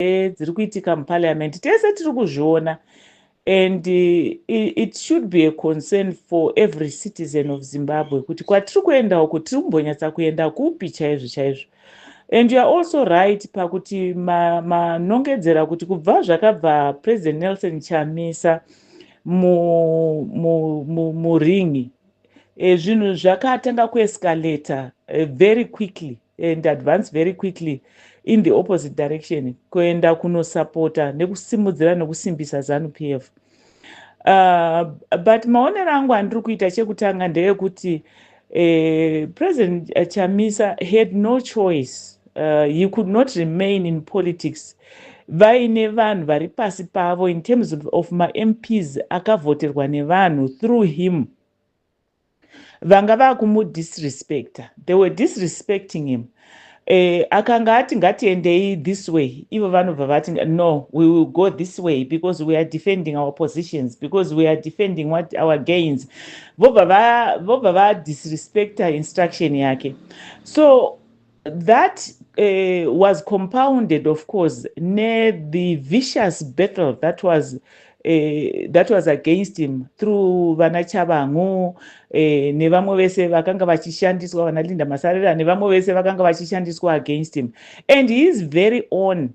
dziri kuitika muparliament tese tiri kuzviona and it should be a concern for every citizen of zimbabwe kuti kwatiri kuenda uku tiri kumbonyatsa kuenda kupi chaizvo chaizvo and youare also right pakuti manongedzera ma kuti kubva zvakabva president nelson chamisa muringi mu, mu, mu, mu eh, zvinhu zvakatanga kuescalator eh, very quickly and advance very quickly in the opposite direction kuenda kunosapota nekusimudzira nekusimbisa zanu p f uh, but maonero angu andiri kuita chekutanga ndeyekuti uh, president chamisa had no choice uh, he could not remain in politics vaine vanhu vari pasi pavo in terms of mamps akavhoterwa nevanhu through him vanga vakumudisrespecta they were disrespecting him eh, akanga ati ngatiendei this way ivo vanobva vati no we will go this way because we are defending our positions because we are defending what our gains vobva vadisrespecta instruction yake so That uh, was compounded, of course, near the vicious battle that was uh, that was against him through vana Chabangu uh, eh, nevamwe vese vakanga vachishandiswa vana Linda Masarira nevamwe vese vakanga vachishandiswa against him and he is very own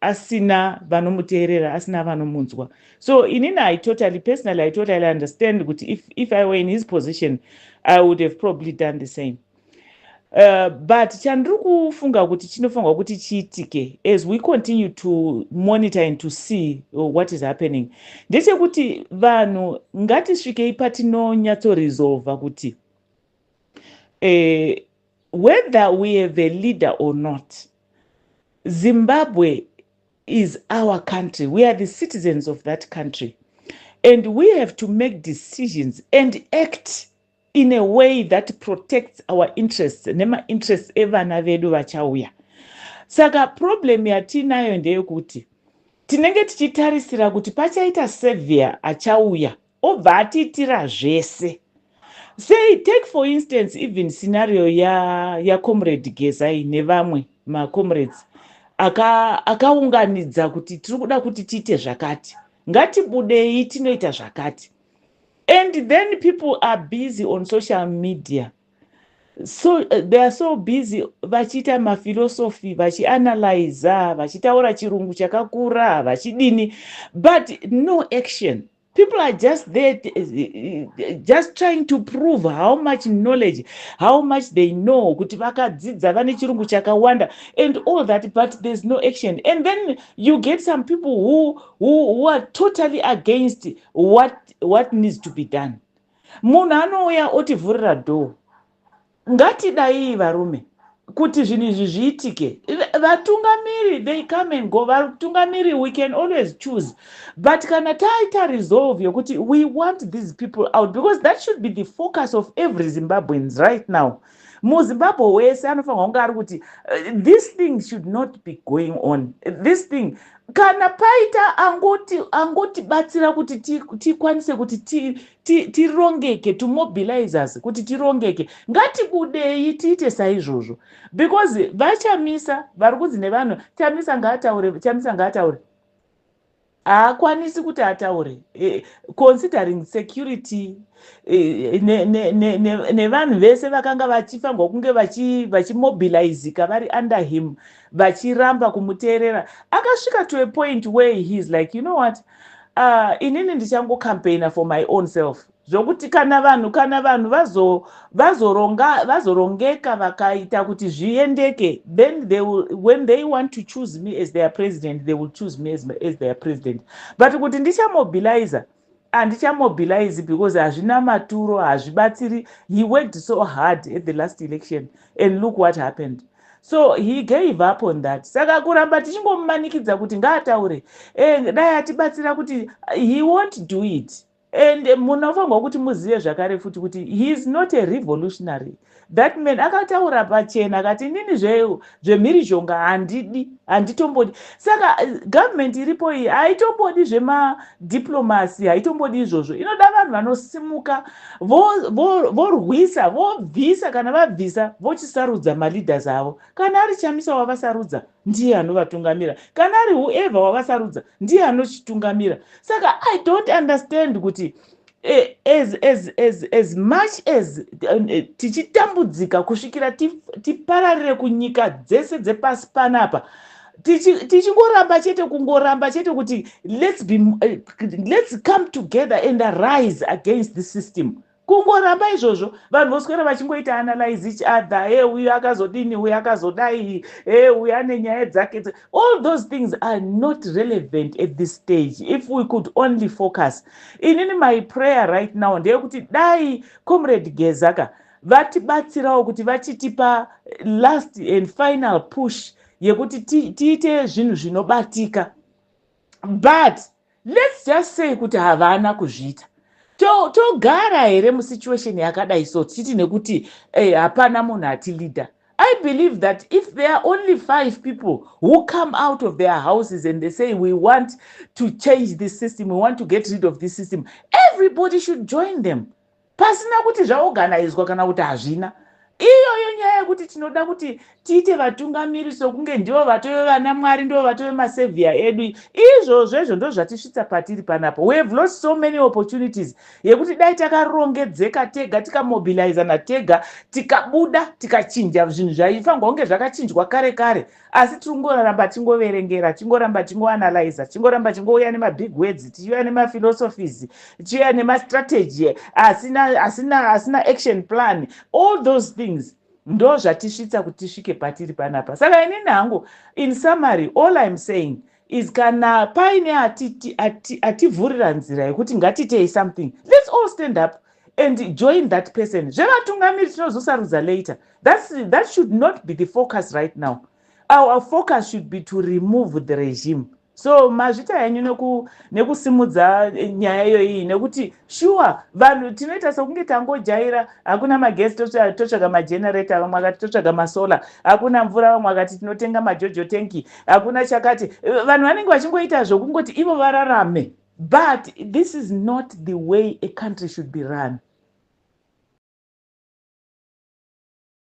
asina vanomuteerera asina vanomunzwa so inini i totally personally i totally understand kuti if, if i were in his position i would have probably done the same uh, but chandiri kufunga kuti chinofanirwa kuti chiitike as we continue to monitor and to see uh, what is happening ndechekuti vanhu ngatisvikei patinonyatsoresolva kuti uh, whether we have a leader or not Zimbabwe is our country. We are the citizens of that country. And we have to make decisions and act in a way that protects our interests nema interests evana vedu vachauya. Saka problem yatinayo ndeyekuti tinenge tichitarisira kuti pachaita severe achauya Obva atiitira zvese. Sei take for instance even scenario ya ya comrade Gezai nevamwe ma comrades aka akaunganidza kuti tiri kuda kuti tiite zvakati. Ngatibudei tinoita zvakati. And then people are busy on social media. So uh, they are so busy vachiita ma philosophy vachi analyze vachitaura chirungu chakakura vachidini but no action. people are just there just trying to prove how much knowledge how much they know kuti vakadzidza vane chirungu chakawanda and all that but there's no action and then you get some people who, who, who are totally against what, what needs to be done munhu anouya otivhurira door Ngatidaii varume kuti zvinhu izvi zviitike vatungamiri they come and go vatungamiri we can always choose but kana taita resolve yokuti we want these people out because that should be the focus of every zimbabweans right now muzimbabwe wese anofanirwa kunge ari kuti uh, this thing should not be going on this thing kana paita angoti angotibatsira kuti tikwanise kuti tirongeke to mobilize us kuti tirongeke ngatibudei tiite saizvozvo because vachamisa vari kunzi nevanhu chamisa ngaataure chamisa ngaataure haakwanisi kuti ataure eh, considering security eh, nevanhu vese vakanga vachifanirwa kunge vachimobilizika vari under him vachiramba kumuteerera akasvika to a point where he is like you know what uh, inini ndichango campaigner for my own self zvokuti kana vanhu kana vanhu vazorongeka vazo vakaita kuti zviendeke then they will, when they want to choose me as their president they will choose me as, as their president but kuti ndichamobilizer handichamobilize because hazvina maturo hazvibatsiri he worked so hard at the last election and look what happened So he gave up on that. Saka kuramba tichingomumanikidza kuti ngaataure. Eh, dai atibatsira kuti he won't do it. And munofanirwa kuti muzive zvakare futi kuti he is not a revolutionary. That man akataura pachena akati nini zve zvemhirizhonga handidi, handitombodi. Saka eh, government iripo iyi haitombodi zvema diplomacy, haitombodi izvozvo. Inoda vanhu vanosimuka. vorwisa vobvisa kana vabvisa vochisarudza maleaders avo kana ari chamisa wavasarudza ndiye anovatungamira kana ari whoever wavasarudza ndiye anochitungamira saka i don't understand kuti eh, as, as, as, as much as eh, tichitambudzika kusvikira tipararire kunyika dzese dzepasi panapa tichingoramba tichi chete kungoramba chete kuti let's, be, eh, let's come together and arise against the system kungoramba izvozvo vanhu voswera vachingoita analyze each other e uyu akazodini uyu akazodai e uyu ane nyaya dzake all those things are not relevant at this stage if we could only focus inini my prayer right now ndeyekuti dai comrade gezaka vatibatsirawo kuti vachitipa last and final push yekuti tiite zvinhu zvinobatika but let's just say kuti havana kuzviita togara here musituation yakadai so tichiti nekuti eh, hapana munhu atileader i believe that if there are only five people who come out of their houses and they say we want to change this system we want to get rid of this system everybody should join them Pasina kuti zvaoganaidzwa kana kuti hazvina, iyoyo nyaya yekuti tinoda kuti tiite vatungamiri sokunge ndivo vatove vanamwari, ndivo vatove masevhiya edu, izvozvo izvo ndozvatisvitsa patiri panapa. We have lost so many opportunities yekuti dai takarongedzeka tega, tikamobilizana tega, tikabuda, tikachinja zvinhu zvaifanirwa kunge zvakachinjwa kare kare. Asi tiri kungoramba tichingoverengera, tichingoramba tichingoanalyzer, tichingoramba tichingouya nemabig words, tichiuya nemaphilosophies, tichiuya nemastrategy asina, asina, asina action plan. All those things ndozvatisvitsa kuti tisvike patiri panapa. Saka inini hangu, in summary, all I'm saying, is kana paine ativhurira ati, ati nzira yekuti ngatiitei something let's all stand up and join that person zvevatungamiri tinozosarudza later That's, that should not be the focus right now our focus should be to remove the regime so mazvita henyu nekusimudza eh, nyaya iyoyi nekuti Sure vanhu tinoita sokunge tangojaira hakuna magesi totsvaga magenerator vamwe vakati totsvaga masolar hakuna mvura vamwe vakati tinotenga majojo tanki hakuna chakati vanhu vanenge vachingoita zvokungoti ivo vararame but this is not the way a country should be run